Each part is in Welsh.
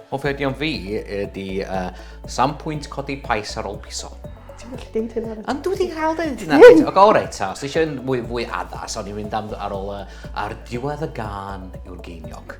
Offerdion fi ydy uh, sam pwynt codi pais ar ôl piso. Ti'n gallu deud hynna? Ond dwi wedi cael deud hynna. O, go reit, ta. Os eisiau fwy, fwy addas, o'n i'n mynd am, ar ôl uh, ar diwedd y gan yw'r geiniog.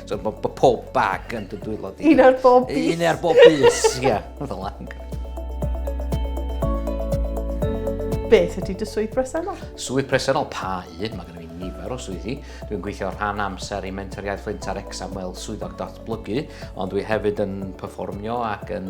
So, bo, bo pob bag yn dy dwylo di. Un ar bob bus. Un ar bob bus, ia. Fel lang. Beth ydy dy swydd bresennol? Swydd bresennol, pa un? Mae gennym ni nifer o swyddi. Dwi'n gweithio rhan amser i Mentor Iaith Flint ar Exam fel swyddog datblygu, ond dwi hefyd yn performio ac yn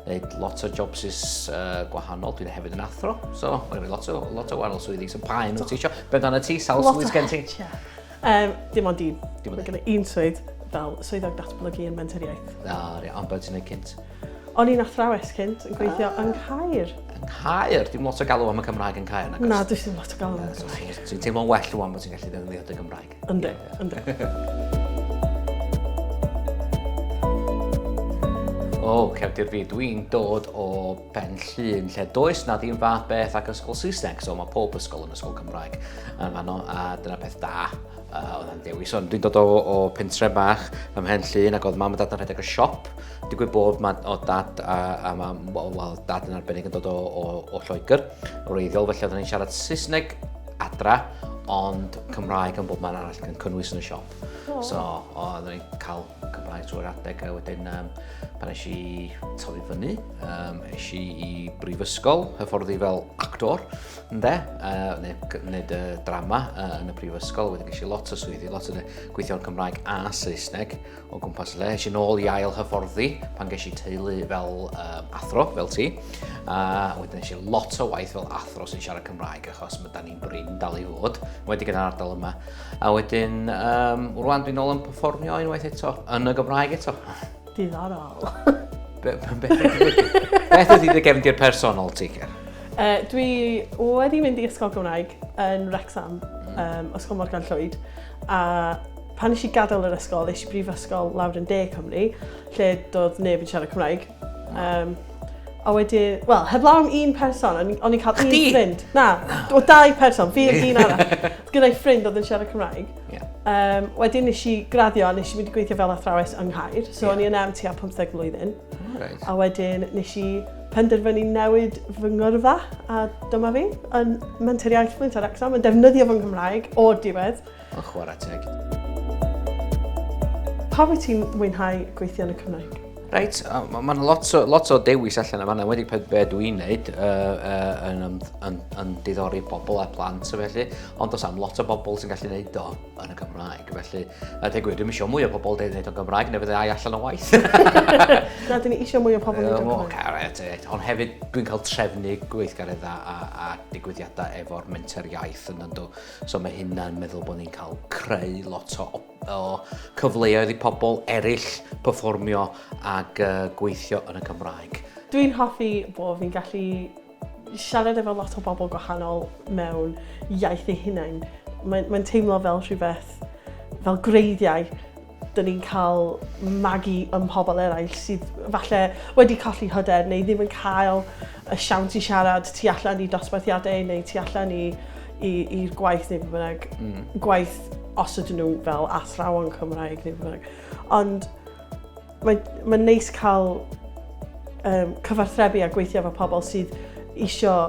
gwneud lot o jobs is uh, gwahanol. Dwi'n hefyd yn athro, so mae gennym ni lot o, lot o wahanol swyddi. So pa un wyt ti eisiau? Beth dan y ti? Sawl swydd gen ti? Lot o Um, dim ond un. Dim ond un. un swydd fel swyddog datblygu yn menteriaeth. Na, re, ond beth ti'n ei cynt? O'n i'n athrawes cynt yn gweithio ah. yng Caer. Yng Caer? Dim lot o galw am y Cymraeg yn Caer, nagos? Na, dwi ddim lot o galw am y Cymraeg. Dwi'n teimlo'n well rwan bod ti'n gallu ddefnyddio dy Gymraeg. Ynddo, ynddo. O, cefndir fi, dwi'n dod o Pen Llŷn, lle does na ddim fath beth ac ysgol Saesneg, so mae pob ysgol yn ysgol Cymraeg yn fanno, a dyna peth da uh, oedd yn dewis. Ond dwi'n dod o, o pentre bach ym Mhen Llŷn ac oedd mam a dad yn rhedeg y siop. Digwydd bod ma, o dad a, a mam, wel, dad yn arbennig yn dod o, o, o Lloegr, o reiddiol, felly oedden ni'n siarad Saesneg adra, ond Cymraeg yn bob man arall yn cynnwys yn y siop. Oh. So, oedden ni'n cael Cymraeg drwy'r adeg a wedyn um, pan eisiau i tyfu fyny, um, eisiau i brifysgol, hyfforddi fel actor, ynddo, uh, neu wneud y drama uh, yn y prifysgol, wedyn eisiau lot o swyddi, lot o gweithio yn Cymraeg a Saesneg o gwmpas le. Eisiau nôl i ail hyfforddi pan ges i teulu fel um, athro, fel ti, a uh, wedyn eisiau lot o waith fel athro sy'n siarad Cymraeg achos mae da ni'n brin dal i fod, wedi gyda'r ardal yma. A wedyn, um, rwan dwi'n ôl yn performio unwaith eto, yn y Gymraeg eto. Diddorol. Beth ydy dy gefndir personol ti, Ger? Uh, dwi wedi mynd i ysgol Gymraeg yn Wrexham, um, Ysgol Morgan Llwyd, a pan nes i gadael yr ysgol, nes i brifysgol lawr yn De Cymru, lle doedd neb yn siarad Cymraeg. Um, A wedi, wel, heblaw am un person, o'n i'n cael un ffrind. Na, o dau person, fi oedd un arall. Gyda'i ffrind oedd yn siarad Cymraeg. Yeah. Um, wedyn nes i graddio a nes i mynd i gweithio fel athrawes yng Nghaer. So yeah. o'n i yn am tua 15 mlynedd. Right. A wedyn nes i penderfynu newid fy ngyrfa a dyma fi yn menter iaith Flinta Rexham yn defnyddio fy Nghymraeg o'r diwedd. Ond chwarae teg. Pa wyt ti'n mwynhau gweithio yn y Cymraeg? Reit, mae'n lot, o, lot o dewis allan yma, wedi peth be dwi i'n neud uh, uh, yn, yn, yn, yn diddori pobl a plant o felly, ond os am lot o bobl sy'n gallu neud o yn y Gymraeg, felly, a deg gwir, dwi'n eisiau mwy o pobl dweud neud o'n Gymraeg, neu fydde ai allan o waith. Na, dwi'n eisiau mwy o pobl neud o'n Gymraeg. Caret, e. ond hefyd dwi'n cael trefnu gweithgareddau a, a digwyddiadau efo'r menter iaith yn ynddo. So mae hynna'n meddwl bod ni'n cael creu lot o, o cyfleoedd i pobl eraill performio ac uh, gweithio yn y Cymraeg. Dwi'n hoffi bod fi'n gallu siarad efo lot o bobl gwahanol mewn iaith ei hunain. Mae'n mae teimlo fel rhywbeth, fel greiddiau Dyn ni'n cael magu ym mhobl eraill sydd falle wedi colli hyder neu ddim yn cael y siawns i siarad tu allan i dosbarthiadau neu tu allan i'r gwaith neu beth bynnag. Mm. Gwaith os ydyn nhw fel athrawon Cymraeg neu beth bynnag. Ond mae'n ma neis cael um, cyfarthrebu a gweithio efo pobl sydd eisiau